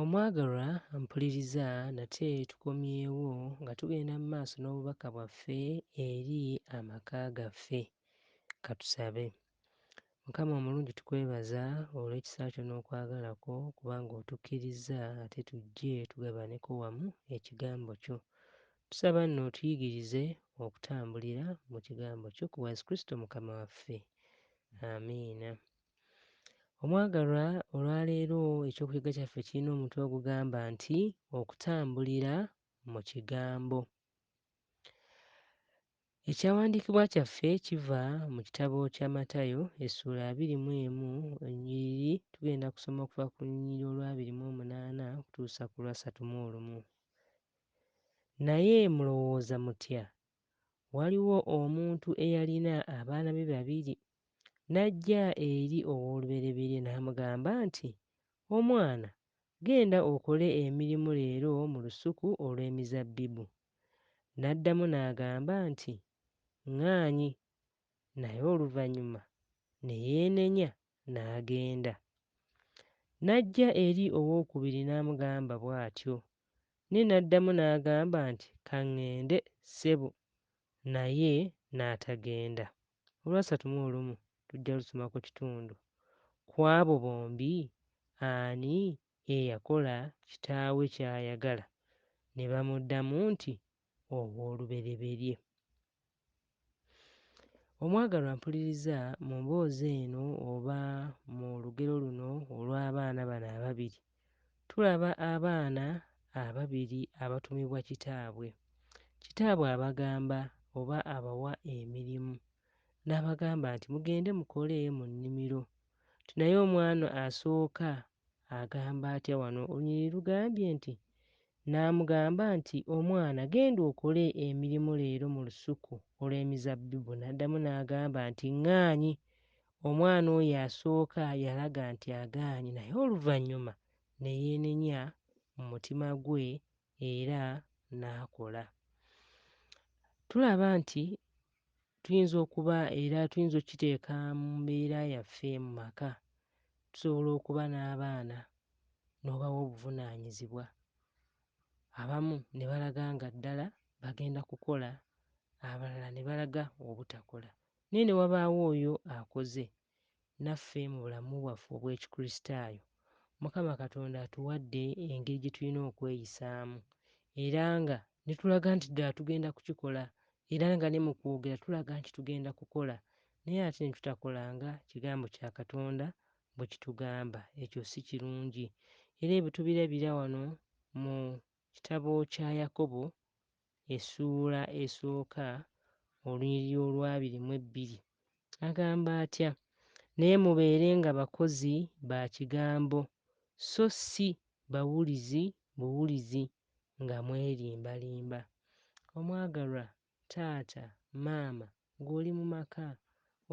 Omwagalwa mpuliriza nate tukomyewo nga tugenda mu maaso n'obubaka bwaffe eri amaka gaffe. Katusabe. Mukama omulungi tukwebaza olw'ekisa kyo n'okwagala kwo kubanga otukkirizza ate tujje tugabaneko wamu ekigambo kyo. Tusaba nno otuyigirize okutambulira mu kigambo kyo ku Yesu Kristo Mukama waffe. Amiina. Omwagalwa, olwaleero eky'okuyiga kyaffe kirina omutwe ogugamba nti okutambulira mu kigambo. Ekyawandiikibwa kyaffe kiva mu kitabo kya Matayo essuula abiri mu emu onyiriri tugenda kusoma okuva ku lunyiriri olwabiri mu omunaana okutuusa ku lwasatu mu olumu. Naye mulowooza mutya? Waliwo omuntu eyalina abaana be babiri N'ajja eri ow'olubereberye n'amugamba nti, Omwana, genda okole emirimu leero mu lusuku olw'emizabbibu. N'addamu n'agamba nti, Ŋŋaanyi. Naye oluvannyuma ne yeenenya n'agenda. N'ajja eri ow'okubiri n'amugamba bw'atyo. Naye n'addamu n'agamba nti, Ka ŋŋende, ssebo. Naye n'atagenda. Olwasatu mu olumu tujja lusomako kitundu ku abo bombi ani eyakola kitaawe ky'ayagala, ne bamuddamu nti, Ow'olubereberye. Omwagalwa mpuliriza mu mboozi eno oba mu lugero luno olw'abaana bano ababiri, Tulaba abaana ababiri abatumibwa kitaabwe. Kitaabwe abagamba oba abawa emirimu n'abagamba nti mugende mukole mu nnimiro nti naye omwana asooka agamba atya wano olunyiriri lugambye nti n'amugamba nti omwana genda okole emirimu leero mu lusuku olw'emizabbibu n'addamu n'agamba nti ŋŋaanyi Omwana oyo asooka yalaga nti agaanyi naye oluvannyuma ne yeenenya mu mutima gwe era n'akola. Tulaba nti tuyinza okuba era tuyinza okukiteeka mu mbeera yaffe mu maka. Tusobola okuba n'abaana n'obawa obuvunaanyizibwa abamu ne balaga nga ddala bagenda kukola abalala ne balaga obutakola. Naye ne wabaawo oyo akoze naffe mu bulamu bwaffe obw'Ekikristaayo, Mukama Katonda atuwadde engeri gye tulina okweyisaamu, era nga ne tulaga nti ddala tugenda kukikola, era nga ne mu kwogera tulaga nti tugenda kukola, naye ate ne tutakola nga Kigambo kya Katonda bwe kitugamba. Ekyo si kirungi. Era ebyo tubirabira wano mu kitabo kya Yakobo essuula esooka olunyiriri olwabiri mu ebbiri, agamba atya? Naye mubeere nga bakozi ba kigambo, so si bawulizi buwulizi nga mwerimbalimba. Omwagalwa taata, maama, Ng'oli mu maka,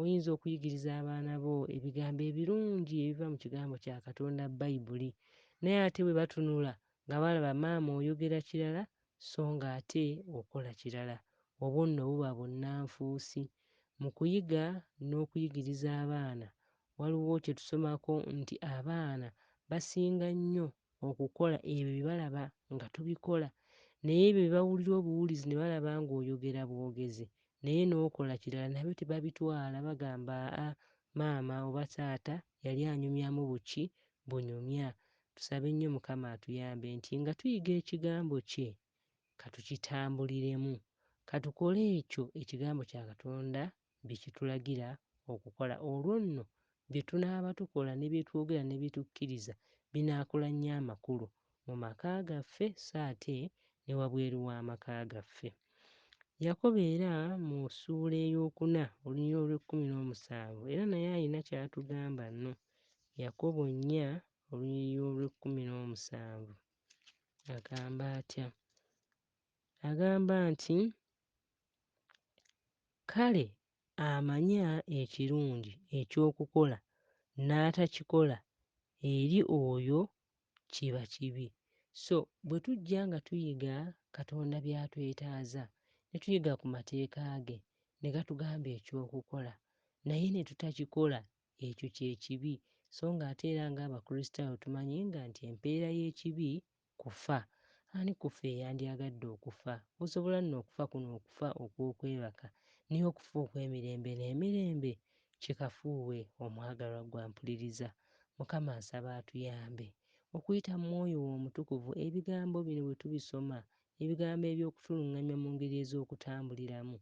oyinza okuyigiriza abaana bo ebigambo ebirungi ebiva mu Kigambo kya Katonda, Bayibuli. Naye ate bwe batunula nga balaba maama oyogera kirala so ng'ate okola kirala, obwo nno buba bunnanfuusi. Mu kuyiga n'okuyigiriza abaana, waliwo kye tusomako nti abaana basinga nnyo okukola ebyo bye balaba nga tubikola naye ebyo bye bawulira obuwulizi ne balaba ng'oyogera bwogezi naye n'okola kirala nabyo tebabitwala bagamba aa maama oba taata yali anyumyamu buki bunyumya tusabe nnyo mukama atuyambe nti nga tuyiga ekigambo kye katukitambuliremu katukole ekyo ekigambo kya katonda bye kitulagira okukola. Olwo nno bye tunaaba tukola ne bye twogera ne bye tukkiriza binaakola nnyo amakulu mu maka gaffe so ate ne wabweru w'amaka gaffe. Yakobo era mu ssuula ey'okuna olunyiriri olw'ekkumi n'omusanvu era naye alina ky'atugamba nno. Yakobo nnya olunyiriri olw'ekkumi n'omusanvu agamba atya? agamba nti, Kale amanya ekirungi eky'okukola n'atakikola, eri oyo kiba kibi. So bwe tujja nga tuyiga Katonda by'atwetaaza, ne tuyiga ku mateeka ge, ne gatugamba eky'okukola, naye ne tutakikola, ekyo kye kibi. So ng'ate era ng'Abakristaayo tumanyi nga nti empeera y'ekibi Kufa? Ani ku ffe eyandyagadde okufa? Musobola nno okufa kuno okufa okw'okwebaka, naye okufa okw'emirembe n'emirembe? Kikafuuwe, omwagalwa ggwe ampuliriza. Mukama nsaba atuyambe, okuyita mu Mwoyo We Omutukuvu, Ebigambo bino bwe tubisoma, Ebigambo eby'okutulungamya mu ngeri ez'okutambuliramu.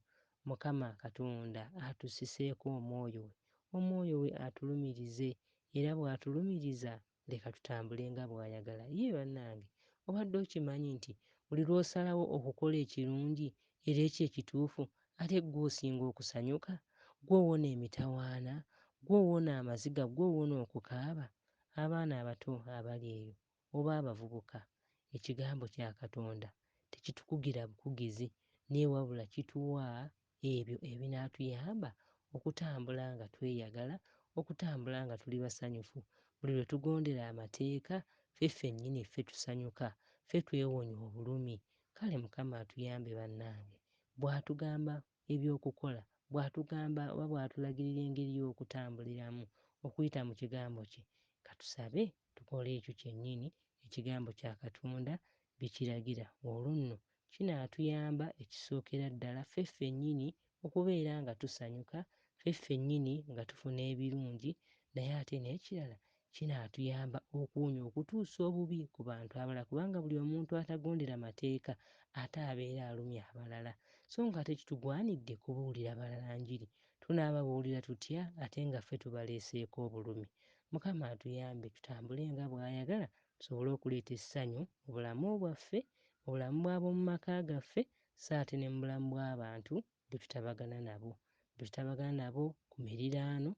Mukama Katonda atussiseeko Omwoyo We. Omwoyo We atulumirize. Era bw'Atulumiriza, leka tutambule nga bw'ayagala. Yii bannange! Obadde okimanyi nti buli lw'osalawo okukola ekirungi era ekyo ekituufu, ate ggwe osinga okusanyuka? Ggwe owona emitawaana, ggwe owona amaziga, ggwe owona okukaaba. Abaana abato abali eyo, oba abavubuka, Ekigambo kya Katonda tekitukugira bukugizi, naye wabula kituwa ebyo ebinaatuyamba okutambula nga tweyagala, okutambula nga tuli basanyufu. Buli lwe tugondera amateeka, ffe ffennyini ffe tusanyuka, ffe twewonya obulumi. Kale Mukama atuyambe bannange. Bw'atugamba eby'okukola, bw'atugamba oba bw'atulagirira engeri y'okutambuliramu okuyita mu Kigambo kye, ka tusabe tukole ekyo kyennyini Ekigambo kya Katonda bye kiragira, olwo nno Kinaatuyamba ekisookera ddala ffe ffennyini okubeera nga tusanyuka ffe ffennyini nga tufuna ebirungi naye ate n'ekirala kinaatuyamba okuwonya okutuusa obubi ku bantu abalala kubanga buli omuntu atagondera mateeka ate abeera alumya abalala so ng'ate kitugwanidde kubuulira balala njiri. Tunaababuulira tutya ate nga ffe tubaleeseeko obulumi? Mukama atuyambe tutambule nga bw'ayagala tusobole okuleeta essanyu mu bulamu bwaffe, mu bulamu bw'ab'omu maka gaffe sso ate ne mu bulamu bw'abantu be tutabagana nabo. Be tutabagana nabo ku miriraano,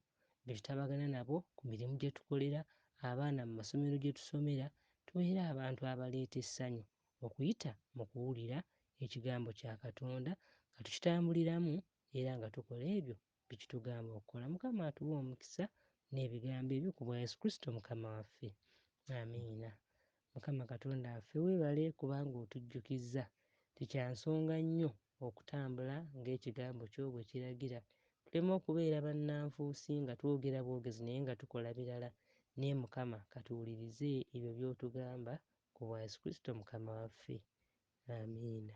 be tutabagana nabo ku mirimu gye tukolera, abaana mu masomero gye tusomera, tubeere abantu abaleeta essanyu okuyita mu kuwulira Ekigambo kya Katonda, nga tukitambuliramu era nga tukola ebyo byekitugamba okukola mukama atuwe omukisa nebigambo ebyo kubwa yesu kristo mukama waffe amiina mukama katonda waffe webale kubanga otujjukizza tikyansonga nnyo okutambula ng'ekigambo kyo bwe kiragira tuleme okubeera bannanfuusi nga twogera bwogezi naye nga tukola birala naye mukama katuwulirize ebyo by'otugamba ku bwa yesu kristo mukama waffe amiina